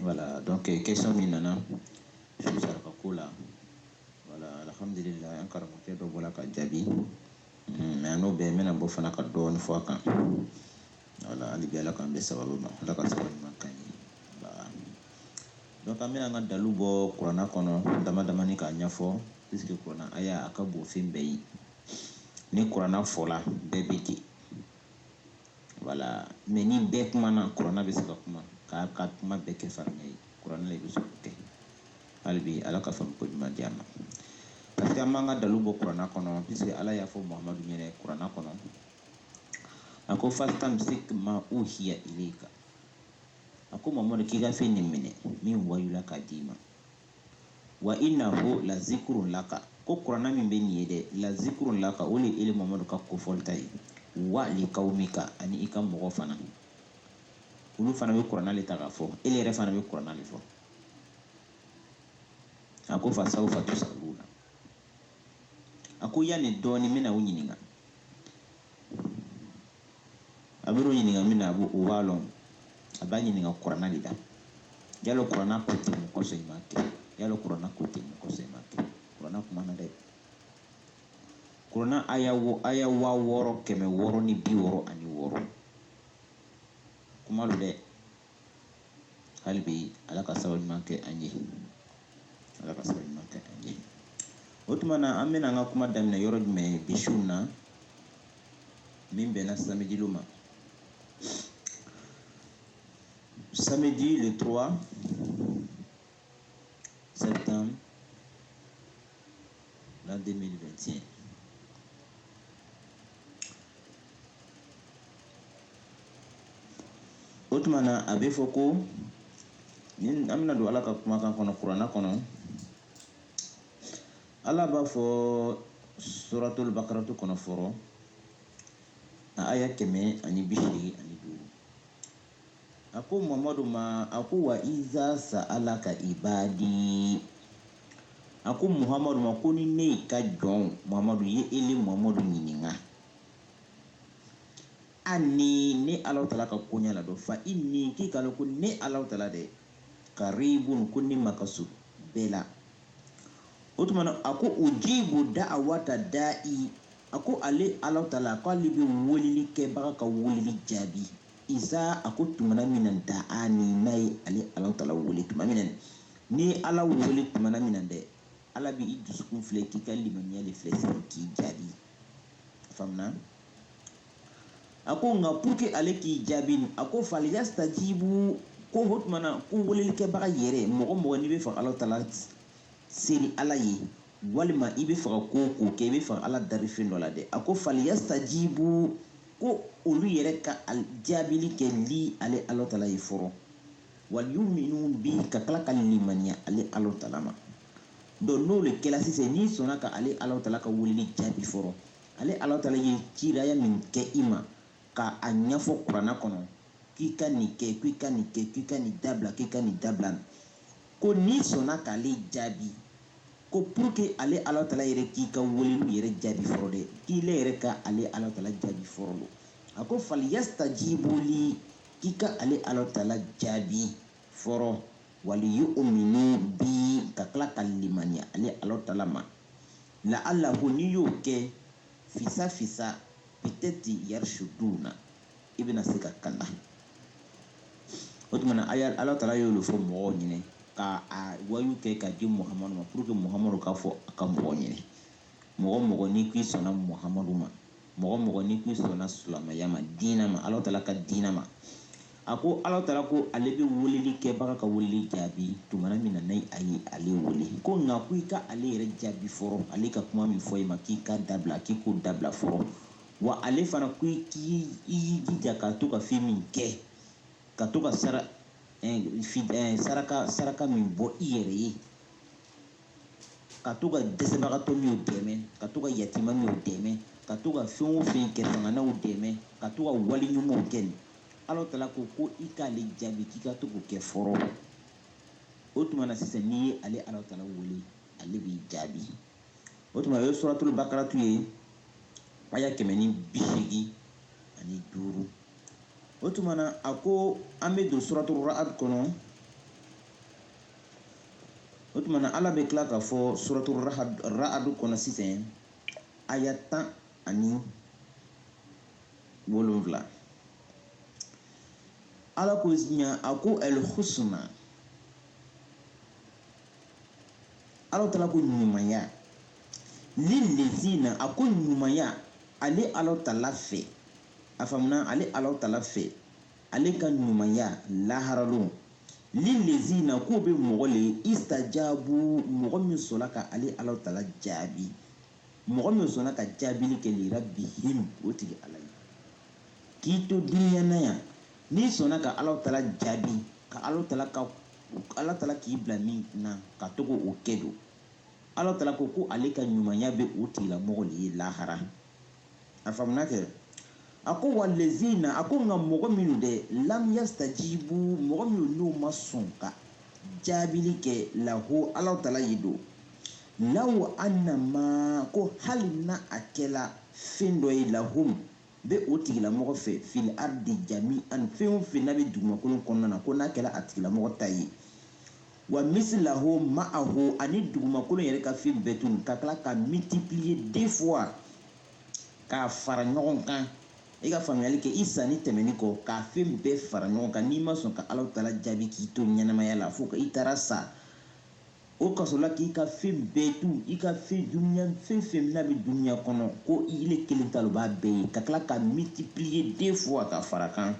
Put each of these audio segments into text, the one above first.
Voilà, donc euh, question min nana saraka ko la voilà alhamdulillah an karamɔgɔkɛ dɔ bɔra ka jaabi hmm, mais n'o bɛɛ n bɛna bɔ fana ka dɔɔni fɔ a kan voilà hali bi ala k'an bɛn sababu ma ala ka sababu ɲuman k'an ye voilà donc an bɛna an ka dalu bɔ kuranna kɔnɔ dama damani k'a ɲɛfɔ puisque kuranna aya a ka bon fɛn bɛɛ ye ni kuranna fɔla bɛɛ bɛ ten voilà mais ni bɛɛ kumana kuranna bɛ se ka kuma k'a ka kuma bɛɛ kɛ faninya ye kuranna le bɛ se k'o kɛ hali bi ala ka faamu ko ɲuman di an ma parce que an b'an ka dalu bɔ kuranna kɔnɔ puisque ala y'a fɔ muhamadu ɲɛnɛ kuranna kɔnɔ a ko fastamsik ma uhiya ilayka a ko muhamadu k'i ka fɛn nin minɛ min wayula k'a d'i ma wa innahu lazikurun laka ko kuranna min bɛ nin ye dɛ lazikurun laka o le ele muhamadu ka kofɔlita ye wa likawmika ani i ka mɔgɔ fana olu fana bɛ kuranna le ta k'a fɔ ele yɛrɛ fana bɛ kuranna le fɔ a ko fasawfa tusaluna a ko yanni dɔɔnin n bɛna u ɲininka a bɛ ɲininka min na a b'o o b'a lɔn a b'a ɲininka kuranna de la yalo kuranna ko ten mun kosɔn i m'a kɛ yalo kuranna ko ten mun kosɔn i m'a kɛ kuranna kumana dɛ kuranna aya wo aya waa wɔɔrɔ kɛmɛ wɔɔrɔ ni bi wɔɔrɔ ani wɔɔrɔ kuma don dɛ hali bi ala ka sababu ɲuman kɛ an ye ala ka sababu ɲuman kɛ an ye o tuma na an bɛna an ka kuma daminɛ yɔrɔ jumɛn bi su na min bɛnna samedi lon ma samedi le 3 septembre l'an 2021. O tuma na a bɛ fɔ ko ni an bɛna don ala ka kumakan kɔnɔ kuranna kɔnɔ ala b'a fɔ suratul bakaratu kɔnɔ fɔlɔ a aya kɛmɛ ani bi seegin ani duuru A ko muhamadu ma a ko wa iza saalaka ibadi a ko muhamadu ma ko ni ne ka jɔn muhamadu ye ele muhamadu ɲininka anni ne ala taala ka koɲa la don fa inni k'i k'a lɔn ko ne ala taala dɛ karibun ko ne ma ka surun bɛɛ la o tuma a ko ujibu daawata dai a ko ale ala taala k'ale bɛ weleli kɛbaga ka weleli jaabi iza a ko tumana min na da'ani n'a ye ale ala taala wele tuma min n'i ye ala wele tuma min na dɛ ala bɛ i dusukun filɛ k'i ka limaniya de filɛ sɔrɔ k'i jaabi faamuya a ko nka pour que ale k'i jaabi a ko falyastajibu ko o tuma na ko weleli kɛbaga yɛrɛ mɔgɔ mɔgɔ n'i bɛ fɔ ala taala seri ala ye walima i bɛ fɛ ka ko k'o kɛ i bɛ fɛ ka ala dari fɛn dɔ la dɛ a ko falyastajibu ko olu yɛrɛ ka jaabili kɛ lii ale ala taala ye fɔrɔ waliyu'uminu bii ka tila ka limaniya ale ala taala ma dɔn n'o le kɛla sisan n'i sɔnna ka ale ala taala ka weleli jaabi fɔrɔ ale ala taala ye ciraya min kɛ i ma ka a ɲɛfɔ kurana kɔnɔ k'i ka nin kɛ k'i ka nin kɛ k'i ka nin dabila k'i ka nin dabila Ko n'i sɔnna k'ale jaabi, ko pour que ale Alahu taala yɛrɛ k'i ka weleliw yɛrɛ jaabi fɔlɔ dɛ, k'i le yɛrɛ ka ale Alahu taala jaabi fɔlɔ. A ko falyastajibu lii k'i ka ale Alahu taala jaabi fɔlɔ, waliyu'uminu bii ka tila ka limaniya ale Alahu taala ma, la'allahum n'i y'o kɛ, fisa fisa peut-être yarshuduna. i bɛna se ka kanda o tuma na ala taala y'o le fɔ mɔgɔw ɲɛna ka a wahyu kɛ ka di muhamadu ma pour que muhamadu ka fɔ a ka mɔgɔw ɲɛna mɔgɔ mɔgɔ n'i k'i sɔnna muhamadu ma mɔgɔ mɔgɔ n'i k'i sɔnna silamɛya ma diinɛ ma ala taala ka diinɛ ma a ko ala taala ko ale bɛ weleli kɛbaga ka weleli jaabi tuma min na ni a ye ale wele ko nka ko i ka ale yɛrɛ jaabi fɔlɔ ale ka kuma min fɔ i ma k'i ka dabila k'i k'o dabila fɔlɔ wa ale fana ko i k'i i y'i jija ka to ka fɛn min kɛ ka to ka sara eh, fi- eh, saraka saraka min bɔ i yɛrɛ ye ka to ka dɛsɛbagatɔ minw dɛmɛ ka to ka yatima minw dɛmɛ ka to ka fɛn o fɛn kɛ fangantanw dɛmɛ ka to ka wale ɲumanw kɛ nin ala taala ko ko i k'ale jaabi k'i ka to k'o kɛ fɔlɔ o tuma na sisan n'i ye ale ala taala wele ale b'i jaabi o tuma o ye suratul bakaratu ye aya kɛmɛ ni bi seegin ani duuru o tuma na a ko an bɛ don suratul ra'ad kɔnɔ o tuma na ala bɛ tila k'a fɔ suratul Rahad- ra'ad kɔnɔ sisan aya tan ani wolonwula ala ko ɲa a ko al husna Ala tala ko ɲumanya lillezina a ko ɲumanya ale ala tala fɛ a fa ale ala tala fɛ ale ka ɲumanya laharalon lillezina k'o bɛ mɔgɔ le istajabu mɔgɔ min sɔnna ka ale ala tala jaabi mɔgɔ min sɔnna ka jaabili kɛ li rabbihim o tigi ala ye k'i to dunya na yan n'i sɔnna ka ala tala jaabi ka ala tala ka ala tala k'i bila min na ka to k'o kɛ don ala tala ko ko ale ka ɲumanya bɛ o tigilamɔgɔ de ye lahara a faamuna kɛ a ko wallezina a ko nka mɔgɔ minnu dɛ lam yastajibu mɔgɔ minnu n'u ma sɔn ka jaabili kɛ lahu ala tala ye don law annama ko hali na a kɛla fɛn dɔ ye lahum bɛ o tigilamɔgɔ fɛ fil ardi jami'an fɛn o fɛn n'a bɛ dugumakolo kɔnɔna na ko n'a kɛla a tigilamɔgɔ ta ye wa misilahu ma'ahu ani dugumakolo yɛrɛ ka fɛn bɛɛ tun ka tila ka multiplier deux fois k'a fara ɲɔgɔn kan i ka faamuyali kɛ i sanin tɛmɛni kɔ k'a fɛn bɛɛ fara ɲɔgɔn kan n'i ma sɔn ka Ala Taala jaabi k'i to ɲɛnamaya la fo i taara sa O kasola k'i ka fɛn bɛɛ to i ka fɛn dunya fɛn fɛn n'a bɛ dunya kɔnɔ ko ile kelen ta b'a bɛɛ ye ka tila ka multiplier deux fois ka fara kan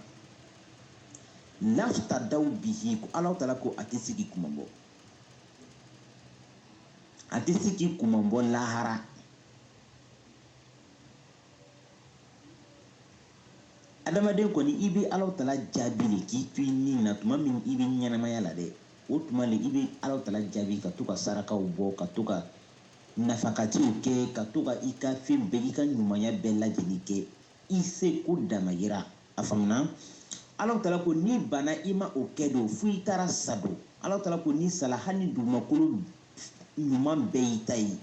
laftadaw bihi ko ala tala ko a tɛ se k'i kunmabɔ a tɛ se k'i kunmabɔ lahara adamaden kɔni i bɛ ala tala jaabi de k'i to i ni na tuma min i bɛ ɲɛnamaya la dɛ o tuma le i bɛ ala tala jaabi ka to ka sarakaw bɔ ka to ka nafakatiw kɛ ka to ka i ka fɛn bɛɛ i ka ɲumanya bɛɛ lajɛlen kɛ i se ko damayira a faamuna ala tala ko n'i bana i ma o kɛ don fo i taara sa don ala tala ko n'i sala hali ni dugumakolo ɲuman bɛɛ y'i ta ye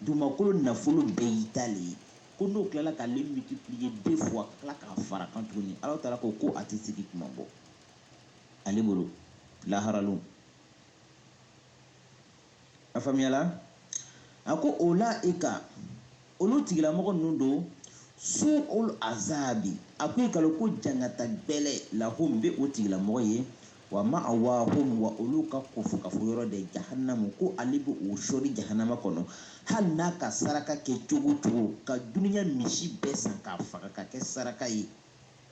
dugumakolo nafolo bɛɛ y'i ta le ye ko n'o tilala k'ale multiplier deux fois ka tila k'a fara kan tuguni ala taala ko ko a tɛ se k'i kunmabɔ ale bolo laharalon a faamuyala a ko ula'ika olu tigilamɔgɔ ninnu don su'ul azabi a ko i k'a lɔn ko jangata gbɛlɛ lahum bɛ o tigilamɔgɔ ye Wa ma'awahum wa olu ka ko fo kafoyɔrɔ de jahanamu ko ale bɛ o sɔri jahanama kɔnɔ hali n'a ka saraka kɛ cogo cogo ka dunya misi bɛɛ san k'a faga ka kɛ saraka ye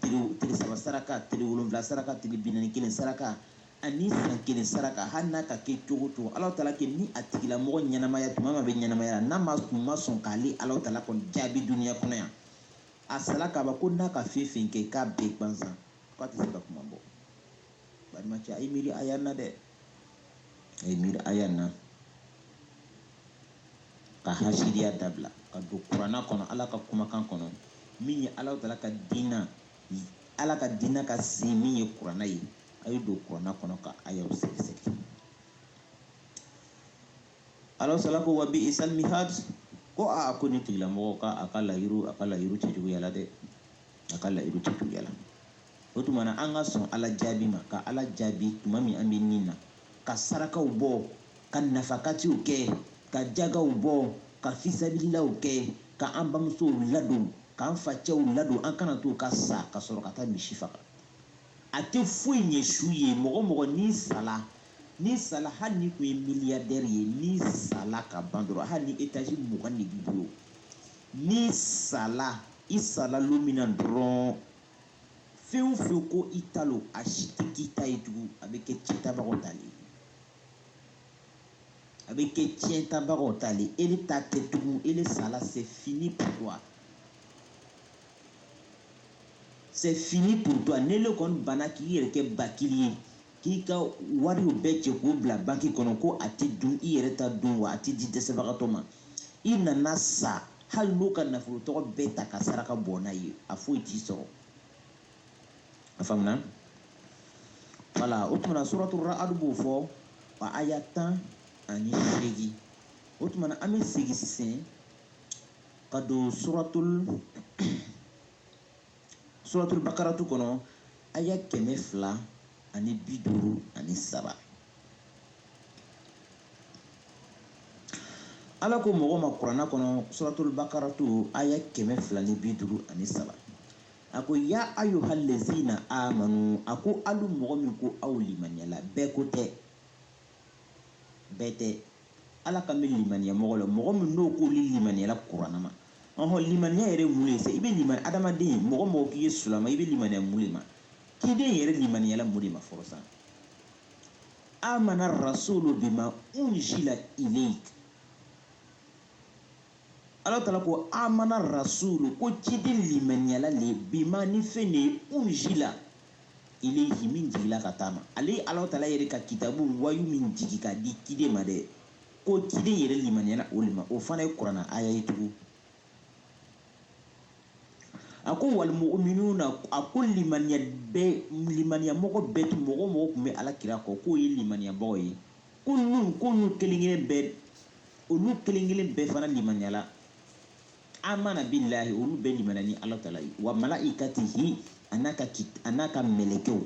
tile saba saraka tile wolonwula saraka tile binani kelen saraka ani san kelen saraka hali n'a ka kɛ cogo cogo ala tala ko ni a tigilamɔgɔ ɲɛnamaya tuma min a bɛ ɲɛnamaya la n'a tun ma sɔn k'ale ala tala kɔni jaabi dunya kɔnɔ yan a sala ka ban ko n'a ka fɛn fɛn kɛ k'a bɛɛ gansan k'a tɛ se ka kuma bɔ balimacɛ a ye miiri aya na dɛ a ye miiri aya na ka hasidiya dabila ka don kuranna kɔnɔ ala ka kumakan kɔnɔ min ye ala taala ka diinɛ ala ka diinɛ ka sin min ye kuranna ye a ye don kuranna kɔnɔ ka ayaw sɛgɛsɛgɛ Ala taala ko wa bi isal mihad ko aa ko nin tigilamɔgɔ ka a ka layɔrɔ cɛjuguyala dɛ a ka layɔrɔ cɛjuguyala o tuma na an ka sɔn ala jaabi ma ka ala jaabi tuma min an bɛ nin na ka sarakaw bɔ ka nafakatiw kɛ ka jagaw bɔ ka fisabililaw kɛ ka an bamusow ladon k'an facɛw ladon an kana to u ka sa ka sɔrɔ ka taa misi faga a tɛ foyi ɲɛ su ye mɔgɔ mɔgɔ n'i sala n'i sala hali n'i tun ye miliyadɛri ye n'i sala ka ban dɔrɔn hali ni etazi mugan de b'i bolo n'i sala i sala lon min na dɔrɔn fɛn o fɛn ko i ta lo a si tɛ k'i ta ye tugun a bɛ kɛ ciyɛntabagaw ta le a bɛ kɛ tiɲɛtabagaw ta le ele ta tɛ tugun ele sala c'est fini pour toi C'est fini pour toi n'ele kɔni banna k'i yɛrɛ kɛ bakili ye k'i ka wariw bɛɛ cɛ k'u bila banki kɔnɔ ko a tɛ dun i yɛrɛ t'a dun wa a tɛ di dɛsɛbagatɔ ma i nana sa hali n'u ka nafolo tɔgɔ bɛɛ ta ka saraka bɔ n'a ye a foyi t'i sɔrɔ a faamuna wala o tumana suratu ra'adu b'o fɔ wa aya tan ani seegin o tumana an bɛ segin sisan ka don suratul suratul bakaratu kɔnɔ aya kɛmɛ fila ani bi duuru ani saba ala ko mɔgɔ ma kuranna kɔnɔ suratul bakaratu aya kɛmɛ fila ni bi duuru ani saba a ko ya ayuhal lezina amanu a ko alu mɔgɔ min ko aw limaniyala bɛɛ ko tɛ bɛɛ tɛ ala kan bɛ limaniya mɔgɔ la mɔgɔ min n'o k'olu limaniyala kuranna ma ɔhɔ limaniya yɛrɛ mun ye sa i bɛ limani adamaden mɔgɔ mɔgɔ k'i ye sulama i bɛ limaniya mun de ma kiden yɛrɛ limaniyala mun de ma fɔlɔ sa amana rasulu bima unzila ilayk ala taala ko amana rasulu ko ciden limaniyala le bima ni fɛn de ye unzila ilayhi min jigila ka taa a ma ale ala taala yɛrɛ ka kitabu wayu min jigi ka di ciden ma dɛ ko ciden yɛrɛ limaniyala o le ma o fana ye kuranna aya ye tugun a ko wal muminuna a ko limaniyamɔgɔ bɛɛ tun mɔgɔ mɔgɔ tun bɛ ala kira kɔ k'o ye limaniyamɔgɔ ye ko ninnu ko ninnu kelen kelen bɛɛ olu kelen kelen bɛɛ fana limaniyala amana bilahi olu bɛɛ limaniya ni ala tala ye wa malaikatihi an'a ka an'a ka mɛlɛkɛw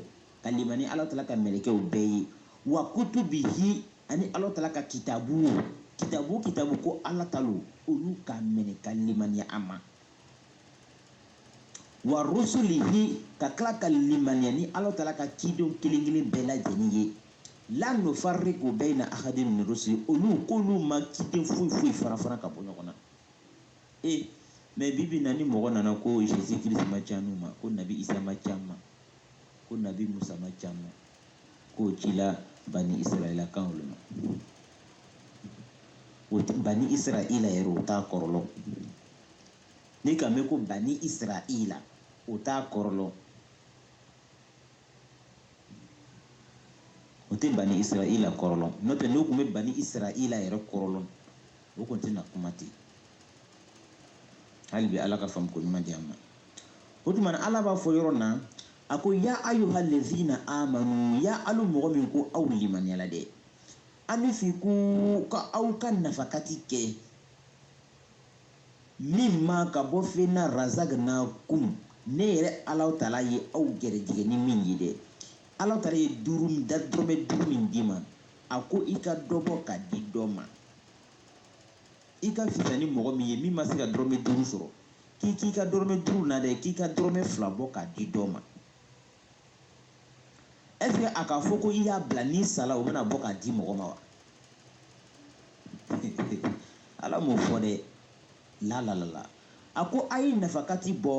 ka limaniya ala tala ka mɛlɛkɛw bɛɛ ye wa kutubihi ani ala tala ka kitabu kitabu kitabu ko ala tala olu ka minɛ ka limaniya a ma wa rusulihi ka tila ka limaniya ni ala taala ka cidenw kelen kelen bɛɛ lajɛlen ye la nufarriku bayna ahadin min rusuli olu k'olu ma ciden foyi foyi fara fara ka bɔ ɲɔgɔn na mais bi bi na ni mɔgɔ nana ko jésus christ ma c'anw ma ko nabi isa ma c'an ma ko nabi musa ma c'an ma k'o cila bani israɛlakaw olu ma bani israɛla yɛrɛ o t'a kɔrɔ lɔn N'i k'a mɛn ko bani israila o t'a kɔrɔ lɔn o tɛ bani israila kɔrɔ lɔn n'o tɛ n'o tun bɛ bani israila yɛrɛ kɔrɔ lɔn o tun tɛna kuma ten hali bi ala ka faamu ko ɲuman di an ma o tuma ala b'a fɔ yɔrɔ na a ko ya ayuha lezina amanu ya alu mɔgɔ min ko aw limaniyala dɛ anfiku k'aw ka nafakati kɛ mimma ka bɔ fɛn na razaknakum ne yɛrɛ ala tala ye aw gɛrɛjigɛ ni min ye dɛ ala tala ye duuru da dɔrɔmɛ duuru min d'i ma a ko i ka dɔ bɔ ka di dɔ ma i ka fisa ni mɔgɔ min ye min ma se ka dɔrɔmɛ duuru sɔrɔ k'i k'i ka dɔrɔmɛ duuru na dɛ k'i ka dɔrɔmɛ fila bɔ ka di dɔ ma est ce que a k'a fɔ ko i y'a bila n'i sala o bɛna bɔ k'a di mɔgɔ ma wa ala m'o fɔ dɛ lalalala a ko a ye nafakati bɔ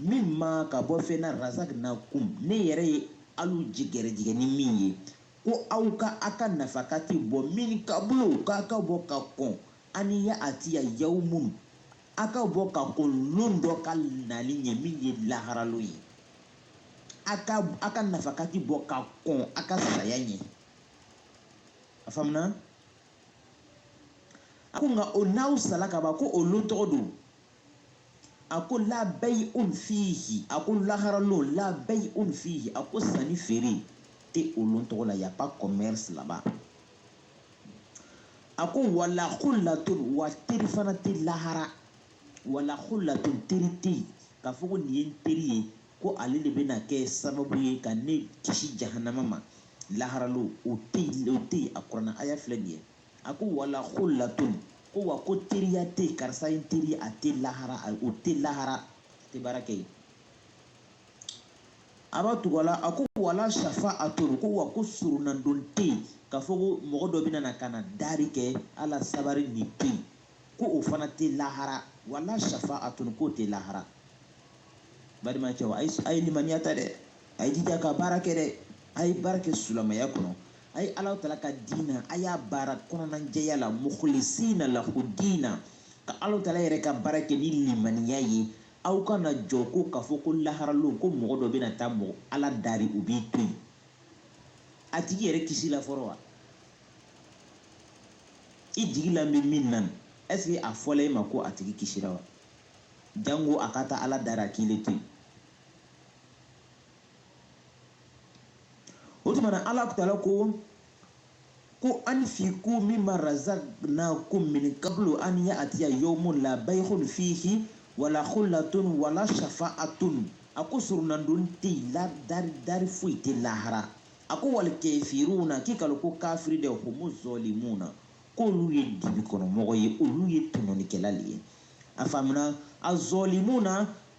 mimma ka bɔ fɛn na razaknakum ne yɛrɛ ye alu ji gɛrɛjigɛ ni min ye ko aw ka a ka nafakati bɔ min kabuli k'a ka bɔ ka kɔn an yatiya yawmun a ka bɔ ka kɔn lon dɔ ka nali ɲɛ min ye lahara lon ye a ka a ka nafakati bɔ ka kɔn a ka saya ɲɛ a faamuna a ko nka o n'aw sala ka ban ko o lon tɔgɔ don a ko la bayi un fihi a ko lahara lon la bayi un fihi a ko sanni feere tɛ o lon tɔgɔ la y'a pas commerce là-bas a ko wala kulatun wa teri fana tɛ lahara wala khullatun teri tɛ yen k'a fɔ ko nin ye n teri ye ko ale le bɛna kɛ sababu ye ka ne kisi jahanama ma laharalo o tɛ yen a kurana aya filɛ nin ye a ko wala khullatun ko wa ko teriya tɛ yen karisa ye n teri ye a tɛ lahara o tɛ lahara a tɛ baara kɛ yen a b'a tugu a la a ko wala shafa'atun ko wa ko surunandon tɛ yen k'a fɔ ko mɔgɔ dɔ bɛna na ka na dari kɛ ala sabari nin tɛ yen ko o fana tɛ lahara wala shafa'atun k'o tɛ lahara balimacɛw a ye limaniya ta dɛ a ye jija ka baara kɛ dɛ a ye baara kɛ silamɛya kɔnɔ a ye ala tala ka diina a y'a baara kɔnɔnajɛya la mukhlisina lahu diina ka ala tala yɛrɛ ka baara kɛ ni limaniya ye aw kana jɔ ko k'a fɔ ko laharalon ko mɔgɔ dɔ bɛna taa mɔgɔ ala dari u b'i to yen a tigi yɛrɛ kisila fɔlɔ wa i jigi la bɛ min na est-ce que a fɔla e ma ko a tigi kisira wa jango a ka taa ala dari a k'i le to yen o tuma na alahu tala ko ko anfiqu mimma razaqnakum min qablu an ya'tiya yawmun la bay'un fihi wala khullatun wala shafa'atun a ko surunandon tɛ yen ala dari foyi tɛ lahara A ko wal kafiruna k'i k'a lɔn ko kafiri de humu zalimuna k'olu ye dibi kɔnɔmɔgɔ ye olu ye tɔɲɔnikɛla le ye a faamuna a zalimuna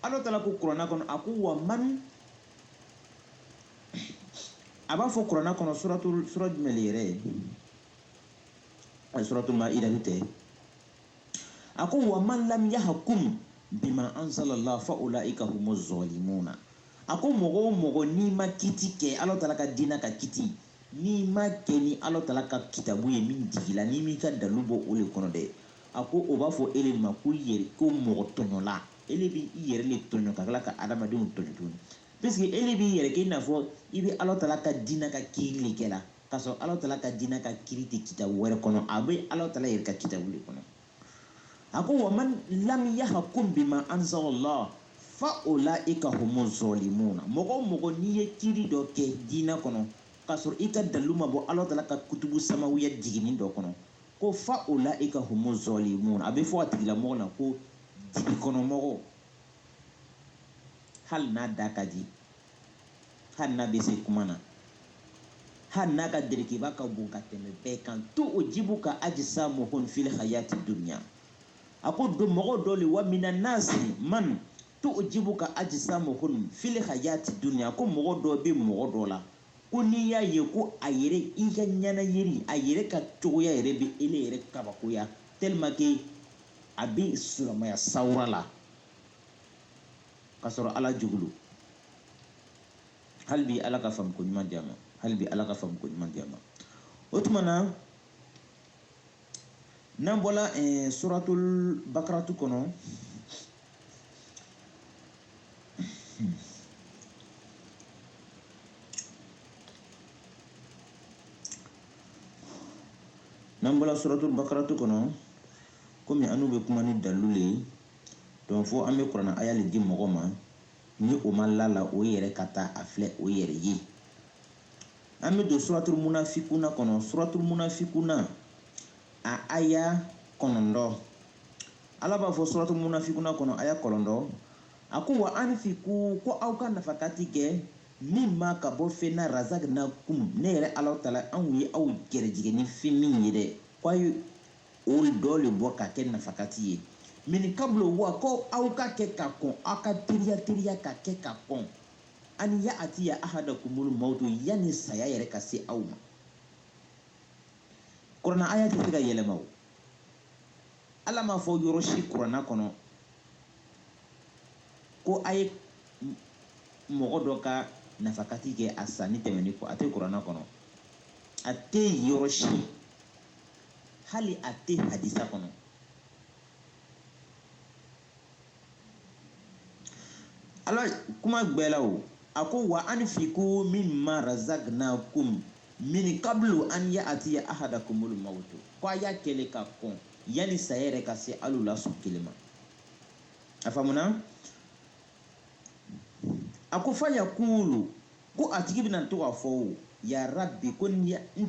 ala taala ko kuranɛ kɔnɔ a ko wa man a b'a fɔ kuranɛ kɔnɔ sura jumɛn le yɛrɛ ye suratul maida tɛ a ko wa man lam yahkum bima anzala Allah fa ulaika humuz zalimuna a ko mɔgɔ o mɔgɔ n'i ma kiti kɛ Ala taala ka diinɛ ka kiti n'i ma kɛ ni Ala taala ka kitabu ye min jigila n'i m'i ka dalu bɔ o le kɔnɔ dɛ a ko o b'a fɔ e le ma ko yɛrɛ ko mɔgɔ tɔɲɔla e le bɛ i yɛrɛ le tɔɲɔ ka tila ka adamadenw tɔɲɔ tuguni puisque e le b'i yɛrɛ kɛ i n'a fɔ i bɛ Ala taala ka diinɛ ka kiiri le kɛ la k'a sɔrɔ Alahu taala ka diinɛ ka kiri tɛ kitabu wɛrɛ kɔnɔ, a bɛ Alahu taala yɛrɛ ka kitabu le kɔnɔ. A ko wa man lam yahkum bima anzalallah fa ulaika humu zɔlimuna mɔgɔ o mɔgɔ n'i ye kiri dɔ kɛ diinɛ kɔnɔ k'a sɔrɔ i ka dalilu ma bɔ Alahu taala ka kutubu samawiya jiginni dɔ kɔnɔ ko fa ulaika humu zɔlimuna a bɛ fɔ a tigilamɔgɔ na ko dibi kɔnɔmɔgɔ hali n'a da ka di hali n'a bɛ se kuma na hali n'a ka derikiba ka bon ka tɛmɛ bɛɛ kan to o jibu ka ajisamuhun fili hayati dunya a ko don mɔgɔ dɔ le wa mina nasi man to o jibu ka ajisamuhun fili hayati dunya ko mɔgɔ dɔ bɛ mɔgɔ dɔ la ko n'i y'a ye ko a yɛrɛ i ka ɲɛnayeli a yɛrɛ ka cogoya yɛrɛ bɛ ele yɛrɛ kabakoya tellement que a bɛ silamaya sawura la ka sɔrɔ ala jugu don hali bi ala ka faamuko ɲuman di an ma hali bi ala ka faamuko ɲuman di an ma o tuma na n'an bɔla eh, suratul bakaratu kɔnɔ n'an bɔla suratul bakaratu kɔnɔ komi anu bɛ kuma ni dalilu le ye Donc fo an bɛ kurana aya le di mɔgɔ ma ni o ma la a la o yɛrɛ ka taa a filɛ o yɛrɛ ye an bɛ don suratul munafikuna kɔnɔ suratul munafikuna a aya kɔnɔntɔn ala b'a fɔ suratul munafikuna kɔnɔ aya kɔnɔntɔn a ko wa anfiku ko aw ka nafakati kɛ min ma ka bɔ fɛn na razaknakum ne yɛrɛ ala taala anw ye aw gɛrɛjigɛ ni fɛn min ye dɛ ko O dɔ le bɔ ka kɛ nafakati ye. Min kablu a ko aw ka kɛ ka kɔn aw ka teriya ka kɛ ka kɔn an ya atiya ahadakumul mawutu yani saya yɛrɛ ka se aw ma. Kurana aya tɛ se ka yɛlɛma o. Ala m'a fɔ yɔrɔ si kurana kɔnɔ ko a ye mɔgɔ dɔ ka nafakati kɛ a sanin tɛmɛnin kɔ a tɛ kurana kɔnɔ a tɛ yɔrɔ si hali a tɛ hadisa kɔnɔ ala kuma bɛɛ la o a ko wa anfiku min ma razagnakum min kablu an ya atiya ahadakumul mawtu ko a y'a kɛ le ka kɔn yanni saya yɛrɛ ka se alu la sɔn kelen ma a faamuna a ko fayakulu ko a tigi bɛna to k'a fɔ o ya rabbi ko n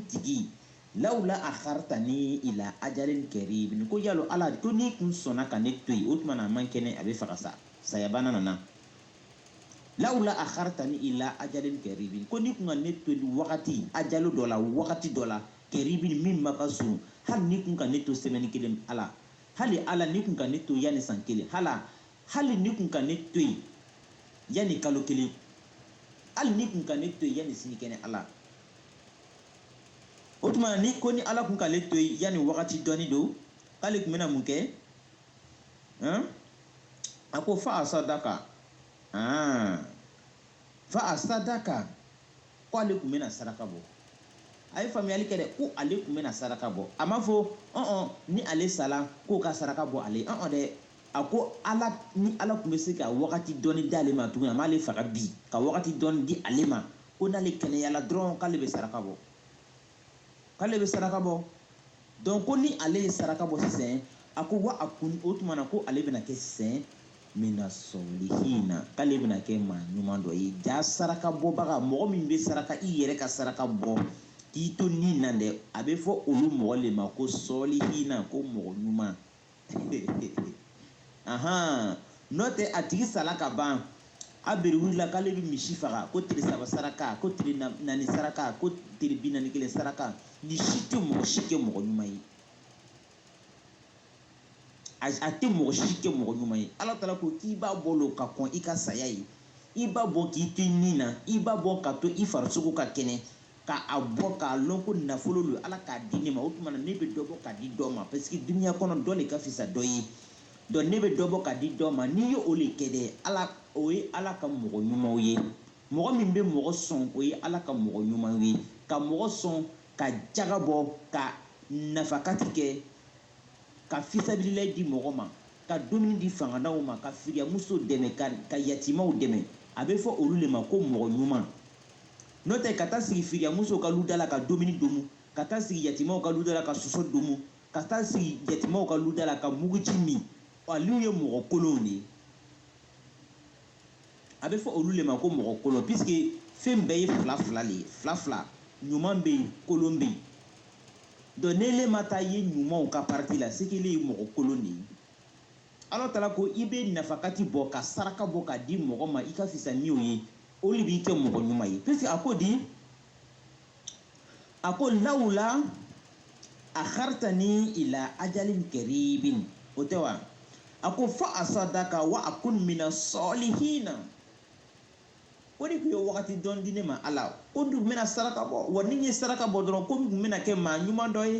tigi lawula aharitani ila ajalin karibi ko yalo ala ko n'i kun sɔnna ka ne to yen o tuma na a man kɛnɛ a b'a fɛ ka sa sayabana nana lawula aharitani ila ajalin karibi ko n'i kun ka ne to yen wagati ajalu dɔ la wagati dɔ la karibi min ma ka surun hali n'i kun ka ne to semaine kelen ala hali ala n'i kun ka ne to yanni san kelen hala hali n'i kun ka ne to yen yanni kalo kelen hali n'i kun ka ne to yen yanni sini kɛnɛ ala o tuma ni ko ni ala kun k'ale to yen yanni wagati dɔɔni don k'ale kun bɛna mun kɛ a ko fa asadaka fa asadaka ko ale kun bɛna saraka bɔ a ye faamuyali kɛ dɛ ko ale kun bɛna saraka bɔ a ma fɔ ɔn ɔn ni ale sala k'o ka saraka bɔ ale ɔn ɔn dɛ a ko ala ni ala kun bɛ se ka wagati dɔɔni di ale ma tuguni a m'ale faga bi ka wagati dɔɔni di ale ma ko n'ale kɛnɛyala dɔrɔn k'ale bɛ saraka bɔ k'ale bɛ saraka bɔ donc ko ni ale ye saraka bɔ sisan a ko wa akun o tuma na ko ale bɛna kɛ sisan mina sɔlihina k'ale bɛna kɛ maa ɲuman dɔ ye jaa saraka bɔbaga mɔgɔ min bɛ saraka i yɛrɛ ka saraka bɔ k'i to ni na dɛ a bɛ fɔ olu mɔgɔ le ma ko sɔlihina ko mɔgɔ ɲuman ahan n'o tɛ a tigi sala ka ban a bere wulila k'ale bɛ misi faga ko tile saba saraka ko tile naani saraka ko tile bi naani kelen saraka nin si tɛ mɔgɔ si kɛ mɔgɔ ɲuman ye a tɛ mɔgɔ si kɛ mɔgɔ ɲuman ye ala taala ko k'i b'a bɔ lo ka kɔn i ka saya ye i b'a bɔ k'i to i ni na i b'a bɔ ka to i farisogo ka kɛnɛ k'a bɔ k'a lɔn ko nafolo lo ala k'a di ne ma o tuma na ne bɛ dɔ bɔ k'a di dɔ ma parce que duniya kɔnɔ dɔ de ka fisa dɔ ye donc ne bɛ dɔ bɔ k'a di dɔ ma n'i ye o le kɛ dɛ ala o ye ala ka mɔgɔ ɲumanw ye mɔgɔ min bɛ mɔgɔ sɔn o ye ala ka mɔgɔ ɲumanw ye ka mɔgɔ sɔn ka jaga bɔ ka nafakati kɛ ka fisabililayi di mɔgɔ ma ka dumuni di fangantanw ma ka firiyamuso dɛmɛ ka yatimaw dɛmɛ a bɛ fɔ olu le ma ko mɔgɔ ɲuman n'o tɛ ka taa sigi firiyamusow ka luda la ka dumuni domu ka taa sigi yatimaw ka luda la ka soso domu ka taa sigi yatimaw ka luda la ka muguji min olu ye mɔgɔ kolonw de ye a bɛ fɔ olu le ma ko mɔgɔ kolon puisque fɛn bɛɛ ye fila fila le ye fila fila ɲuman bɛ yen kolon bɛ yen donc n'ele ma taa ye ɲumanw ka parti la c'est que ele ye mɔgɔ kolon de ye ala taala ko i bɛ nafakati bɔ ka saraka bɔ k'a di mɔgɔ ma i ka fisa ni o ye o le b'i kɛ mɔgɔ ɲuman ye puisque a ko di a ko lawula akhartani ila ajalin karibin o tɛ wa a ko fa asadaka wa akun mina sɔlihina ko n'i kun ye wagati dɔɔni di ne ma ala ko n tun bɛna saraka bɔ wa ni n ye saraka bɔ dɔrɔn ko n tun bɛna kɛ maa ɲuman dɔ ye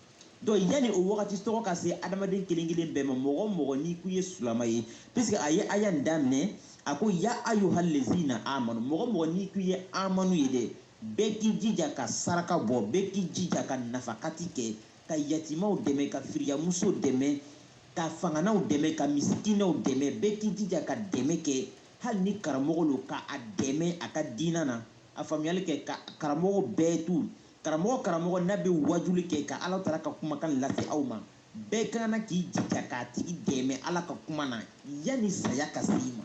donc yanni o wagati tɔgɔ ka se adamaden kelen kelen bɛɛ ma mɔgɔ mɔgɔ n'i kun ye silama ye puisque a ye aya nin daminɛ a ko ya ayyuhal lezina amanu mɔgɔ mɔgɔ n'i kun ye amanu ye dɛ bɛɛ k'i jija ka saraka bɔ bɛɛ k'i jija ka nafakati kɛ ka yatimaw dɛmɛ ka firiyamuso dɛmɛ ka fangantanw dɛmɛ ka misikinɛw dɛmɛ bɛɛ k'i jija ka dɛmɛ kɛ hali ni karamɔgɔ lo ka a dɛmɛ a ka diina lafaamuyali kɛ ka karamɔgɔ bɛɛ tu Karamɔgɔ karamɔgɔ n'a bɛ wajuli kɛ ka Ala Taala ka kumakan lase aw ma, bɛɛ ka kan na k'i jija k'a tigi dɛmɛ Ala ka kuma na yani saya ka se i ma.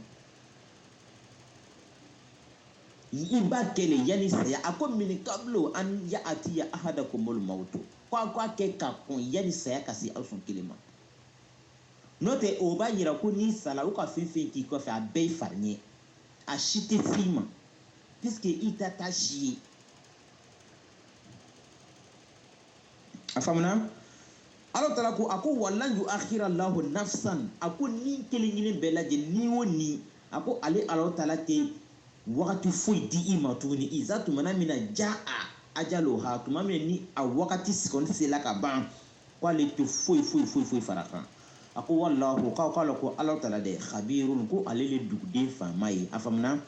I b'a kɛ le yani saya, a ko min kablu an ya'atiya ahadakumul mawtu ko a k'a kɛ ka kɔn yani saya ka se aw sɔn kelen ma. N'o tɛ o b'a yira ko n'i sala u ka fɛn fɛn k'i kɔfɛ a bɛɛ ye fariɲɛ, a si tɛ se i ma puisque i ta t'a si ye. a faamuna ala taala ko a ko walan yu akhira lahu nafsan a ko ni kelen kelen bɛɛ lajɛ ni o ni a ko ale ala taala tɛ wagati foyi di i ma tuguni iza tumana min na jaa ajaluha tuma min ni a wagati kɔni sela ka ban ko ale tɛ foyi foyi foyi foyi far'a kan a ko wallahu k'aw k'a lɔn ko ala taala dɛ khabirun ko ale le duguden faama ye a faamuna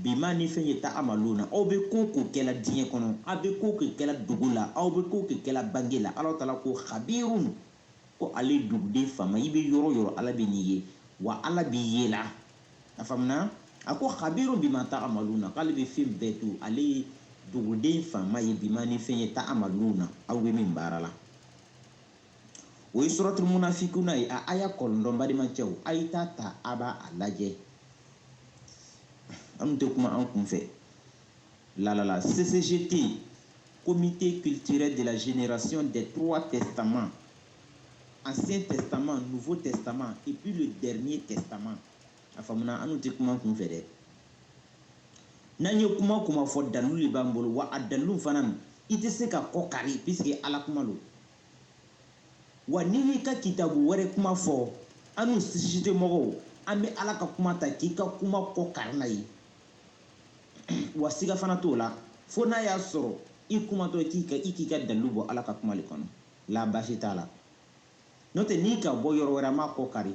Bima ni fɛn ye ta amaluna aw bɛ ko ko kɛla diɲɛ kɔnɔ aw bɛ ko ko kɛla dogo la aw bɛ ko ko kɛla bange la ala taala ko khabirun ko ale duguden faama i bɛ yɔrɔ yɔrɔ ala bɛ n'i ye wa ala b'i yela a faamuna a ko khabirun bima ta amaluna k'ale bɛ fɛn bɛɛ dɔn ale ye duguden faama ye bima ni fɛn ye ta amaluna aw bɛ min baara la o ye suratul munafikuna ye a aya kɔnɔntɔn balimacɛw a ye t'a ta a b'a lajɛ an tɛ kuma an kunfɛ la ccgt comité culturel de la génération des trois testaments ancien testament nouveau testament et puis le dernier testament a faamuna an tɛ kuma an kunfɛ dɛ n'an ye kuma kuma fɔ dalu de b'an bolo wa a dalu fana i tɛ se k'a kɔ kari puisque ala kuma lo wa n'i y'i ka kitabu wɛrɛ kuma fɔ anu ccgt mɔgɔw an bɛ ala ka kuma ta k'i ka kuma kɔ kari n'a ye wa siga fana t'o la fo n'a y'a sɔrɔ i kumatɔ k'i ka i k'i ka dalilu bɔ ala ka kuma le kɔnɔ la baasi t'a la n'o tɛ n'i ka bɔ yɔrɔ wɛrɛ an b'a kɔ kari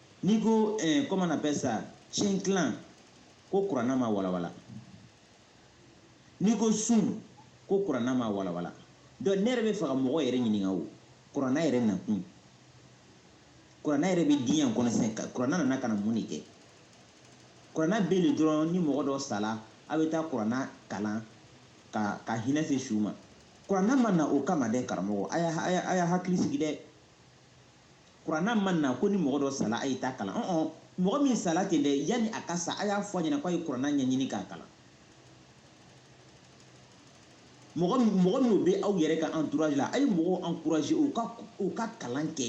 n'i ko eh, comment on appelle ça cɛntilan ko kuranna ma walawala n'i ko sun ko kuranna ma walawala donc ne yɛrɛ bɛ fɛ ka mɔgɔ yɛrɛ ɲininka o kuranna yɛrɛ nakun kuranna yɛrɛ bɛ diɲɛ kɔnɔ sisan kuranna nana ka na mun de kɛ kuranna bɛ yen dɔrɔn ni mɔgɔ dɔ sala a bɛ taa kuranna kalan ka ka hinɛ se su ma kuranna ma na o kama dɛ karamɔgɔ a y'a a y'a hakili sigi dɛ kuranna ma na ko ni mɔgɔ dɔ sala a ye taa kalan ɔn mɔgɔ min sala ten dɛ yanni a ka sa a y'a fɔ a ɲɛna k'a ye kuranna ɲɛɲini k'a kalan mɔgɔ mɔgɔ minnu bɛ aw yɛrɛ ka entourage la a ye mɔgɔw encourager u ka u ka kalan kɛ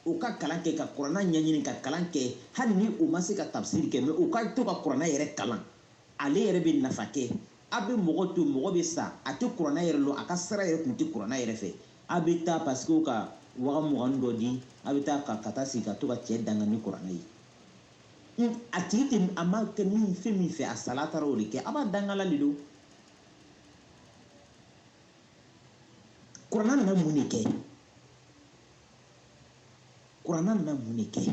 u ka kalan kɛ ka kuranna ɲɛɲini ka kalan kɛ hali ni u ma se ka tafsiri kɛ mais u ka to ka kuranna yɛrɛ kalan ale yɛrɛ bɛ nafa kɛ A bɛ mɔgɔ to mɔgɔ bɛ sa a tɛ kuranɛ yɛrɛ lɔn a ka sira yɛrɛ tun tɛ kuranɛ yɛrɛ fɛ a bɛ taa parce que u ka waga mugan dɔ di a bɛ taa ka ka taa sigi ka to ka cɛ danga ni kuranɛ ye hmm, a tigi tɛ a ma kɛ min fɛn min fɛ a sala taara o de kɛ a b'a dangala de don kuranɛ nana mun de kɛ kuranɛ nana mun de kɛ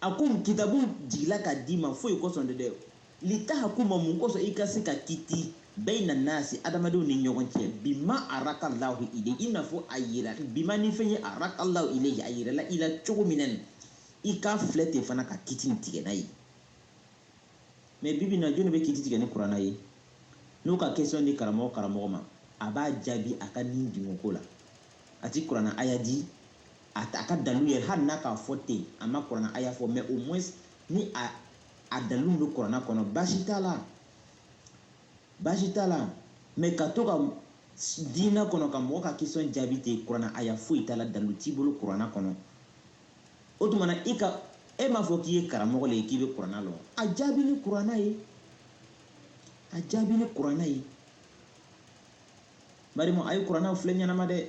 A ko kitabu jigila ka d'i ma foyi kosɔn de dɛ litahakuma mun kosɔn i ka se ka kiti bayna nasi adamadenw ni ɲɔgɔn cɛ bima araka lahu ile i n'a fɔ a yira bima ni fɛn ye araka lahu ile a yirala i la cogo min na i k'a filɛ ten fana ka kiti tigɛ n'a ye mais bibi na jɔni bɛ kiti tigɛ ni kurana ye n'o ka question di karamɔgɔ karamɔgɔ ma a b'a jaabi a ka ni dungɔko la a ti kurana aya di a ta a ka dalilu yɛrɛ hali n'a k'a fɔ ten a ma kuranna aya fɔ mais au moins ni a a dalilu bɛ kuranna kɔnɔ baasi t'a la baasi t'a la mais ka to ka diinɛ kɔnɔ ka mɔgɔ ka question jaabi ten kuranna aya foyi t'a la dalilu t'i bolo kuranna kɔnɔ o tuma na i ka e m'a fɔ k'i ye karamɔgɔ le ye k'i bɛ kuranna lɔn a jaabi ni kuranna ye a jaabi ni kuranna ye bari a ye kurannaw filɛ ɲɛnama dɛ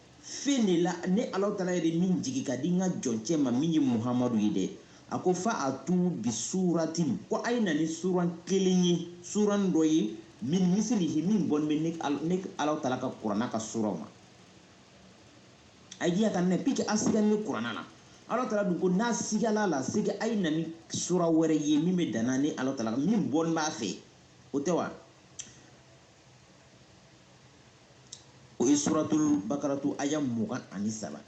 Fɛn de la ne Alahu taala yɛrɛ min jigi ka di n ka jɔncɛ ma min ye Muhamadu ye dɛ, a ko faatu bi suuratin ko a ye na ni suran kelen ye suran dɔ ye min misilihi min bɔn bɛ ne ne Alahu taala ka kurana ka suranw ma a ye diya ka ne puisque a sigani kurana na Alahu taala dun ko n'a sigala la sigi a ye na ni sura wɛrɛ ye min bɛ danna ni Alahu taala min bɔn b'a fɛ o tɛ wa o ye suratul bakaratu aya mugan ani saba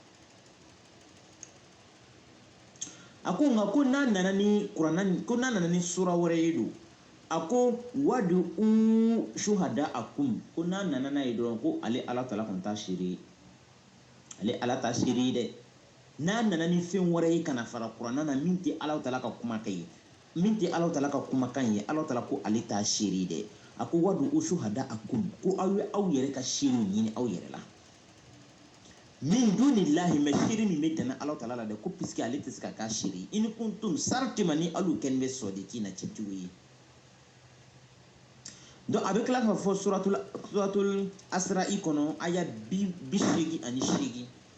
a ko nka ko n'a nana ni kuranna ko n'a nana ni sura wɛrɛ ye don a ko wadu u suhada a kum ko n'a nana n'a ye dɔrɔn ko ale ala taala kɔni t'a seere ye ale ala t'a seere ye dɛ n'a nana ni fɛn wɛrɛ ye ka na fara kuranna na min tɛ ala taala ka kumakan ye min tɛ Alahu Taala ka kumakan ye, Alahu Taala ko ale t'a seere dɛ, a ko wadu u suhada a kum ko aw ye aw yɛrɛ ka seerew ɲini aw yɛrɛ la min duni lahi mɛ seere min bɛ dana Alahu Taala la dɛ ko puisque ale tɛ se ka k'a seere ye in kuntum sartima ni alu kɛni bɛ sɔdikiina cɛntigiw ye donc a bɛ tila k'a fɔ suratul suratul asra'i kɔnɔ aya bi bi seegin ani seegin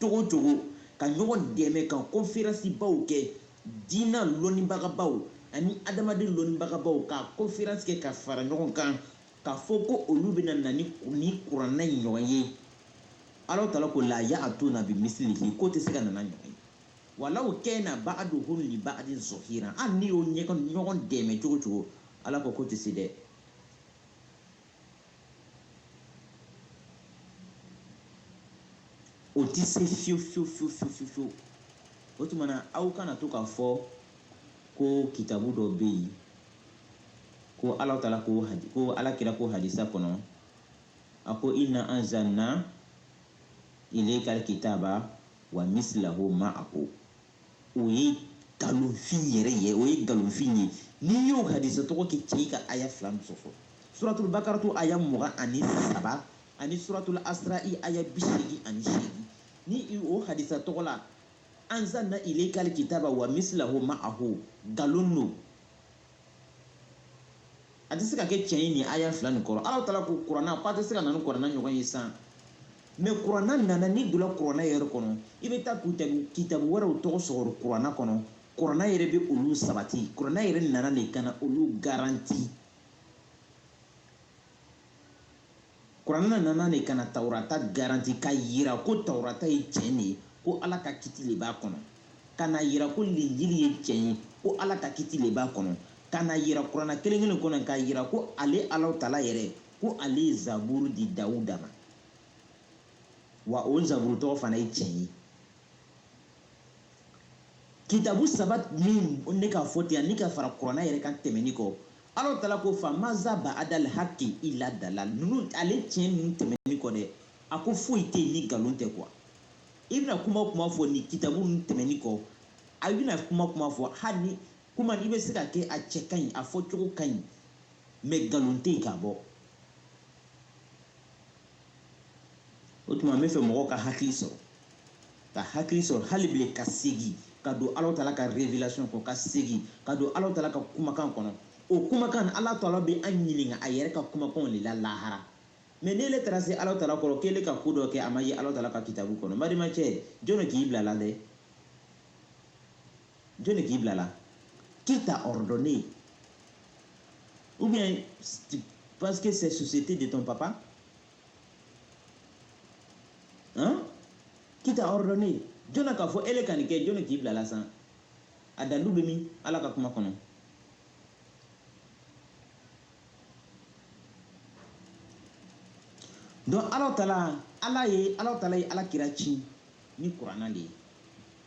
Cogo cogo, ka ɲɔgɔn dɛmɛ ka konferansibaw kɛ, diina lɔnnibagabaw ani adamaden lɔnnibagabaw ka konferansi kɛ ka fara ɲɔgɔn kan, k'a fɔ ko olu bɛna na ni ni kuranɛ in ɲɔgɔn ye. Alahu taala ko, Laa ya'atuuna bimisilihi k'o tɛ se ka na n'a ɲɔgɔn ye. Walaw kaana ba'aduhum li ba'adin zɔhiiran hali n'i y'o ɲɔgɔn dɛmɛ cogo cogo, Ala ko k'o tɛ se dɛ. o tɛ se fiyewu fiyewu fiyewu fiyewu fiyewu o tuma na aw kana to k'a fɔ ko kitabu dɔ bɛ yen ko ala taala ko hadi ko ala kira ko hadisa kɔnɔ a ko inna anzalna ilayka alkitaba wa mislahu ma'ahu o ye nkalonfin yɛrɛ ye o ye nkalonfin ye n'i y'o hadisa tɔgɔ kɛ cɛn ye ka aya fila nin sɔsɔ suratul bakaratu aya mugan ani saba ani suratul asra'i aya bi seegin ani seegin ni o hadisa tɔgɔ la anzalna ilaykal kitaba wa mislahu ma'ahu nkalon don a tɛ se ka kɛ tiɲɛ ye nin aya fila nin kɔrɔ ala taala ko kuranna ko a tɛ se ka na ni kuranna ɲɔgɔn ye san mɛ kuranna nana n'i donna kuranna yɛrɛ kɔnɔ i bɛ taa kitabu kitabu wɛrɛw tɔgɔ sɔrɔ kuranna kɔnɔ kuranna yɛrɛ bɛ olu sabati kuranna yɛrɛ nana de ka na olu garanti kuranna nana de ka na taurata garanti ka yira ko taurata ye tiɲɛ de ye ko ala ka kiti le b'a kɔnɔ ka na yira ko linjili ye tiɲɛ ye ko ala ka kiti le b'a kɔnɔ ka na yira kuranna kelen kelen kɔnɔ ka yira ko ale alahu taala yɛrɛ ko ale ye zaburu di dawuda ma wa o zaburu tɔgɔ fana ye tiɲɛ ye kitabu saba min ne ka fɔ ten ani ka fara kuranna yɛrɛ kan tɛmɛni kɔ Ala taala ko fa maza ba adal haki ila dala ninnu ale tiɲɛ ninnu tɛmɛnni kɔ dɛ a ko foyi tɛ yen ni nkalon tɛ quoi i bɛna kuma kuma fɔ ni kitabu ninnu tɛmɛnni kɔ a bɛna kuma kuma fɔ hali ni kuma i bɛ se ka kɛ a cɛ ka ɲi a fɔ cogo ka ɲi mais nkalon tɛ yen ka bɔ o tuma n bɛ fɛ mɔgɔw ka hakili sɔrɔ ka hakili sɔrɔ hali bile ka segin ka don ala tala ka révélation kɔnɔ ka segin ka don ala tala ka kumakan kɔnɔ o kumakan ala tala bɛ an ɲininka a yɛrɛ ka kumakanw de la lahara mais n'e le taara se ala tala kɔrɔ k'e le ka ko dɔ kɛ a ma ye ala tala ka kitabu kɔnɔ n badenmacɛ jɔni k'i bila la dɛ jɔnni k'i bila la qui t'a ordonné ou bien parce que c'est société de ton papa hein qui t'a ordonné jɔnna k'a fɔ ele ka nin kɛ jɔnni k'i bila la san a dalilu bɛ min ala ka kuma kɔnɔ donc ala tala ye ala tala ye ala kira ci ni kuranna de ye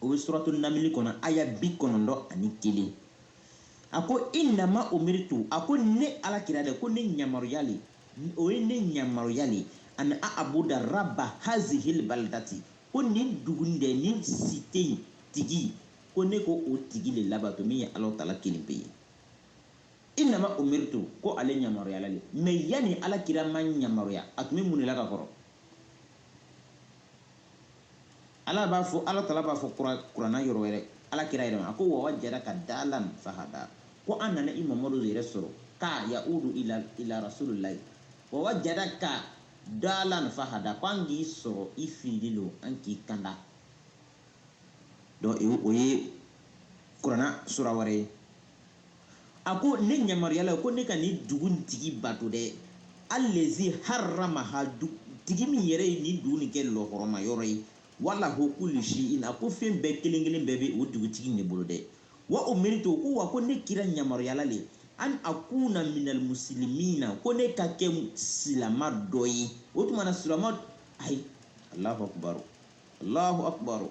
o bɛ suratu namili kɔnɔ aya bi kɔnɔntɔn ani kelen a ko inama umiritu a ko ne ala kira dɛ ko ne ɲamaruya le o ye ne ɲamaruya le an a abuda raba hazihil balidati ko nin dugu dɛ nin cité in tigi ko ne k'o tigi le labato min ye ala tala kelen pe ye inama umiritu ko ale ɲamaruyala le mais yanni ala kira ma ɲamaruya a tun bɛ mun de la ka kɔrɔ ala b'a fɔ ala tala b'a fɔ kuranna yɔrɔ wɛrɛ ala kira yɛrɛ ma a ko wa wajadaka dalan fahada ko an nana i mamadu yɛrɛ sɔrɔ ka yaudu ila rasulillahi wa wajadaka dalan fahada ko an k'i sɔrɔ i fililen don an k'i kanda donc o ye kuranna sura wɛrɛ ye a ko ne ɲamaruyala ko ne ka nin dugu tigi bato dɛ alazi haramaha tigi min yɛrɛ ye nin dugu nin kɛ lɔhɔrɔma yɔrɔ ye wa lahu kulu sheyin a ko fɛn bɛɛ kelen kelen bɛɛ bɛ o dugutigi ne bolo dɛ wa umiritu ko wa ko ne kira ɲamaruyala le an akuna minal musilimina ko ne ka kɛ silama dɔ ye o tuma na silama ayi alahu akubaro alahu akubaro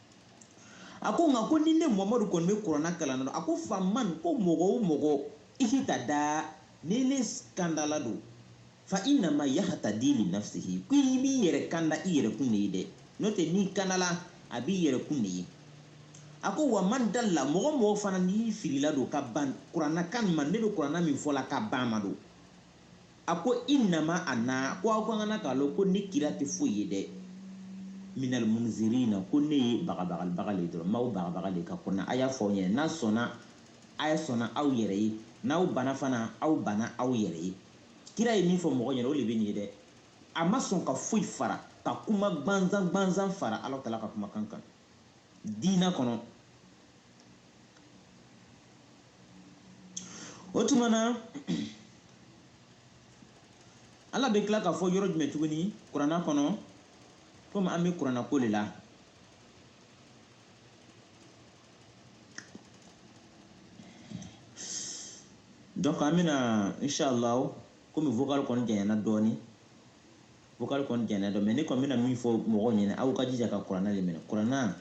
a ko nka ko ni ne mamadu kɔni bɛ kuranna kalan na a ko faman ko mɔgɔ o mɔgɔ ihitada n'e le kandala don fa inama yahatadi li nafsihi ko i b'i yɛrɛ kanda i yɛrɛ kun de ye dɛ n'o tɛ n'i kandala a b'i yɛrɛ kun de ye a ko wa man dalla mɔgɔ o mɔgɔ fana n'i filila don ka ban kuranna kan ma ne bɛ kuranna min fɔ la ka ban ma don A ko innama ana ko aw ka kana k'a lɔn ko ne kira tɛ foyi ye dɛ minal munzirina ko ne ye bagabagalibaga le dɔrɔn m'aw bagabaga le ka kɔnɔ a y'a fɔ aw ɲɛna n'a sɔnna a ye sɔnna aw yɛrɛ ye n'aw bana fana aw bana aw yɛrɛ ye kira ye min fɔ mɔgɔ ɲɛna o le bɛ nin ye dɛ a ma sɔn ka foyi fara ka kuma gbanzan gbanzan fara Ala tala ka kumakan kan diina kɔnɔ o tuma na ala bɛ tila k'a fɔ yɔrɔ jumɛn tuguni kuranna kɔnɔ komi an bɛ kuranna ko le la donc an bɛna inshallah komi vocal kɔni janyana dɔɔni vocal kɔni janyana dɔɔni mais ne kɔni bɛna min fɔ mɔgɔw ɲɛna aw ka jija ka kuranna de minɛ kuranna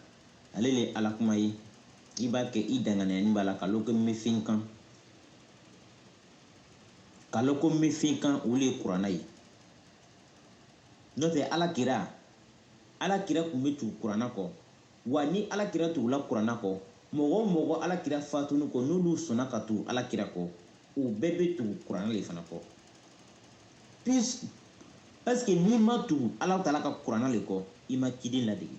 Ale le ye Ala kuma ye, i b'a kɛ i danganiyani b'a la, ka lɔn ko n bɛ fɛn kan. Ka lɔn ko n bɛ fɛn kan, o le ye kurana ye. N'o tɛ Ala kira, Ala kira tun bɛ tugu kurana kɔ, wa ni Ala kira tugula kurana kɔ, mɔgɔ o mɔgɔ Ala kira faatuni kɔ, n'olu sɔnna ka tugu Ala kira kɔ, o bɛɛ bɛ tugu kurana le fana kɔ. Parce que n'i ma tugu Ala tala ka kurana le kɔ, i ma ciden ladege.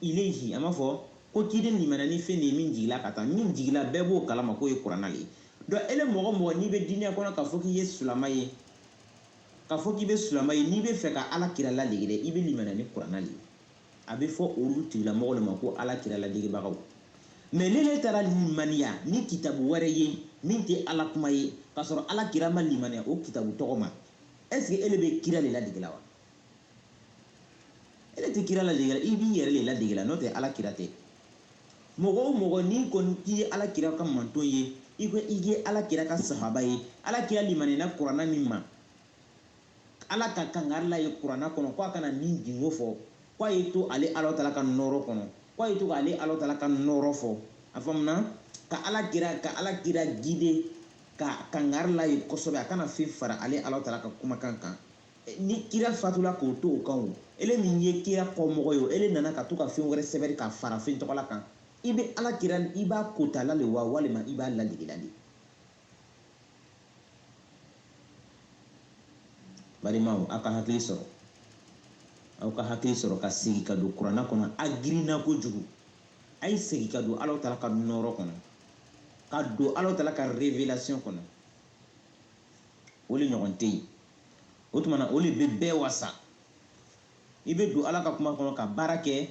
ilayhi an b'a fɔ ko ciden limaniya ni fɛn de ye min jigila ka taa min jigila bɛɛ b'o kalama k'o ye kuranna le ye donc ele mɔgɔ mɔgɔ n'i bɛ diina kɔnɔ k'a fɔ k'i ye sulama ye k'a fɔ k'i bɛ sulama ye n'i bɛ fɛ ka ala kira ladege dɛ i bɛ limaniya ni kuranna le ye a bɛ fɔ olu tigilamɔgɔ le ma ko ala kira ladegebagaw mais n'ele taara limaniya ni kitabu wɛrɛ ye min tɛ ala kuma ye k'a sɔrɔ ala kira ma limaniya o kitabu tɔgɔ ma est ce que ele bɛ kira le ladege la wa ele tɛ kira ladege la i b'i yɛrɛ le ladege la n'o tɛ ala kira tɛ mɔgɔ o mɔgɔ n'i kɔni k'i ye ala kira ka manton ye i ko i ye ala kira ka sahaba ye ala kira limaniyana kuranna min ma ala ka kangari la ye kuranna kɔnɔ ko a kana nin dungɔ fɔ ko a ye to ale ala tala ka nɔɔrɔ kɔnɔ ko a ye to ka ale ala tala ka nɔɔrɔ fɔ a faamuna ka ala kira ka ala kira guider ka kangari la ye kosɛbɛ a kana fɛn fara ale ala tala ka kumakan kan ni kira fatula k'o to o kan o ele min ye kira kɔmɔgɔ ye o ele nana ka to ka fɛn wɛrɛ sɛbɛri ka fara fɛn tɔgɔla kan i bɛ ala kira i b'a kotala le wa walima i b'a ladege la le balimaw aw ka hakili sɔrɔ aw ka hakili sɔrɔ ka segin ka don kuranna kɔnɔ a girinna kojugu a ye segin ka don ala tala ka nɔɔrɔ kɔnɔ ka don ala tala ka révélation kɔnɔ o le ɲɔgɔn tɛ yen o tuma na o le bɛ bɛɛ wasa i bɛ don ala ka kuma kɔnɔ ka baara kɛ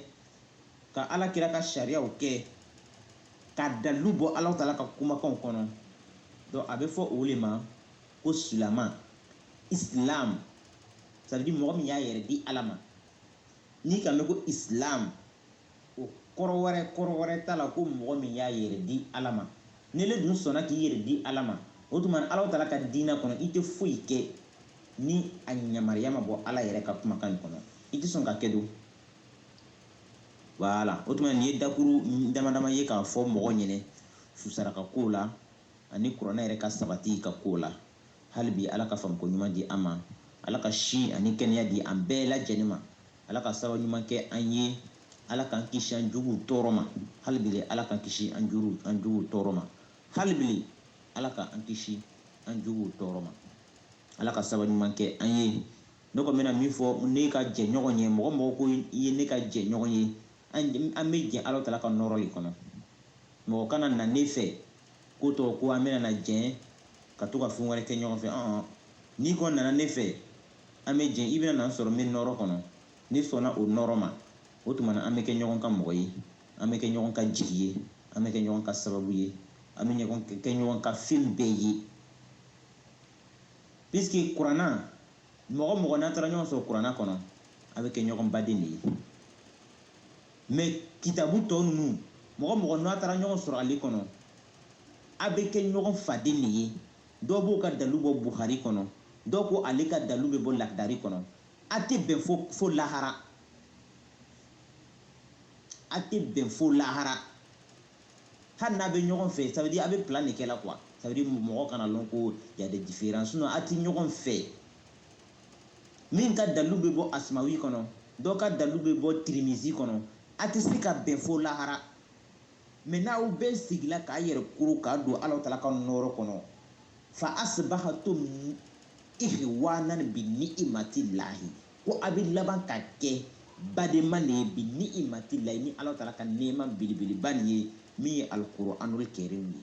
ka ala kira ka sariyaw kɛ ka dalu bɔ ala tala ka kumakanw kɔnɔ donc a bɛ fɔ o le ma ko silama islam c'est à dire mɔgɔ min y'a yɛrɛ di ala ma n'i k'a mɛn ko islam O kɔrɔ wɛrɛ kɔrɔ wɛrɛ t'a la ko mɔgɔ min y'a yɛrɛ di Ala ma. N'ile dun sɔnna k'i yɛrɛ di Ala ma, o tuma na Alahu taala ka diinɛ kɔnɔ, i tɛ foyi kɛ ni a yamaruya ma bɔ Ala yɛrɛ ka kumakan in kɔnɔ. I tɛ sɔn k'a kɛ don. Voilà. O tuma nin ye dakuru damadama ye k'a fɔ mɔgɔ ɲɛnɛ susaraka kow la ani kuranɛ yɛrɛ ka sabati ka kow la. Hali bi Ala ka faamuko ɲuman di an ma. Ala ka si ani kɛnɛya di an bɛɛ lajɛlen ma. Ala ka sababu ɲuman kɛ an ye. Ala k'an kisi an juguw tɔɔrɔ ma. Hali bile Ala k'an kisi an juru an juguw tɔɔrɔ ma. Hali bile Ala ka an kisi an juguw tɔɔrɔ ma. Ala ka sababu ɲuman kɛ an ye. Ne kɔni bɛna min fɔ ne ka jɛɲɔgɔn ye, mɔgɔ mɔgɔ ko i ye ne ka jɛɲɔgɔn ye, an bɛ jɛn Alahu taala ka nɔɔrɔ le kɔnɔ. Mɔgɔ kana na ne fɛ ko tɔgɔ ko an bɛna na jɛn ka to ka fɛn wɛrɛ kɛ ɲɔgɔn fɛ ɔn n'i kɔni nana ne fɛ an bɛ jɛn i bɛna na n sɔrɔ n bɛ nɔɔrɔ kɔnɔ ne sɔnna o nɔɔrɔ ma o tuma na an bɛ kɛ ɲɔgɔn ka mɔgɔ ye an bɛ kɛ ɲɔgɔn ka jigi ye an bɛ kɛ ɲɔgɔn ka sababu ye an bɛ ɲɔgɔn kɛ ɲɔgɔn ka fɛn bɛɛ ye puisque kuranna mɔgɔ mɔgɔ n'a taara ɲɔgɔn sɔrɔ kuranna kɔnɔ a bɛ kɛ ɲɔgɔn baden de ye mais kitabu tɔ ninnu mɔgɔ mɔgɔ n'a taara ɲɔgɔn sɔrɔ ale kɔnɔ a bɛ kɛ ɲɔgɔn faden de ye dɔw b'o ka dalu bɔ buhari kɔnɔ dɔ ko ale ka dalu bɛ bɔ lakidari kɔnɔ a tɛ bɛn fo fo lahara a tɛ bɛn fo lahara hali n'a bɛ ɲɔgɔn fɛ ça veut dire a bɛ plan de kɛ la quoi ça veut dire mɔgɔ kana lɔn ko y a des différences sinon a tɛ ɲɔgɔn fɛ min ka dalu bɛ bɔ asimawi kɔnɔ dɔ ka dalu bɛ bɔ tirimizi kɔnɔ a tɛ se ka bɛn fo lahara mais n'aw bɛɛ sigila k'a yɛrɛ kuru k'a don ala tala ka nɔɔrɔ kɔnɔ fa asibahatum ihwanan bi ni'imati lahi ko a bɛ laban ka kɛ badenma de ye bi ni'imati lahi ni ala tala ka nɛɛma belebeleba nin ye min ye alikuranul kɛrim ye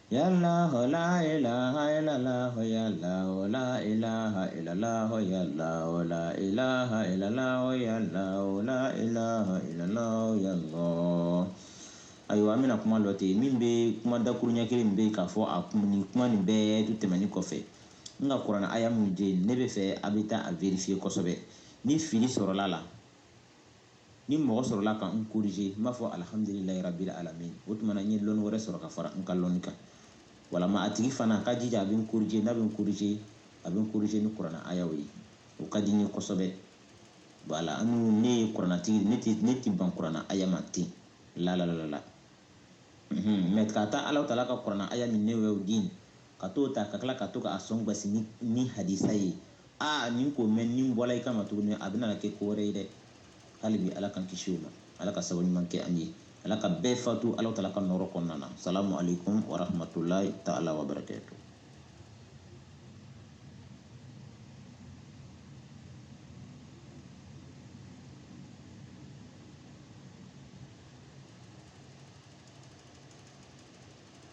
Ayiwa an bɛna kuma lɔ ten min bɛ kuma dakuru ɲɛ kelen min bɛ k'a fɔ ani kuma nin bɛɛ tɛmɛnen kɔfɛ n ka kuranɛ aya min di ne b'a fɛ a bɛ taa a vérifier kosɛbɛ ni fili sɔrɔla a la ni mɔgɔ sɔrɔla ka n corriger n b'a fɔ alhamdulilayi rabbil alamin o tuma na n ye lɔnni wɛrɛ sɔrɔ ka fara n ka lɔnni kan walama a tigi fana a ka jija a bɛ n corriger n'a bɛ n corriger a bɛ n corriger ni kurana ayaw ye o ka di n ye kosɛbɛ voilà an minnu ne ye kuranatigi ne tɛ ne tɛ ban kurana aya ma ten la la la la mais ka taa ala taala ka kurana aya min ne y'o di ka t'o ta ka tila ka to k'a sɔn gasi ni, ni hadisa ye aa nin ko mɛn ni n bɔla i kama tuguni a bɛna kɛ ko wɛrɛ ye dɛ hali bi ala k'an kisi o ma ala ka sababu ɲuman kɛ an ye ala ka bɛɛ fatu ala taala ka nɔrɔ kɔnɔna na salamu alaikum warahmatulahi taala wabarakatu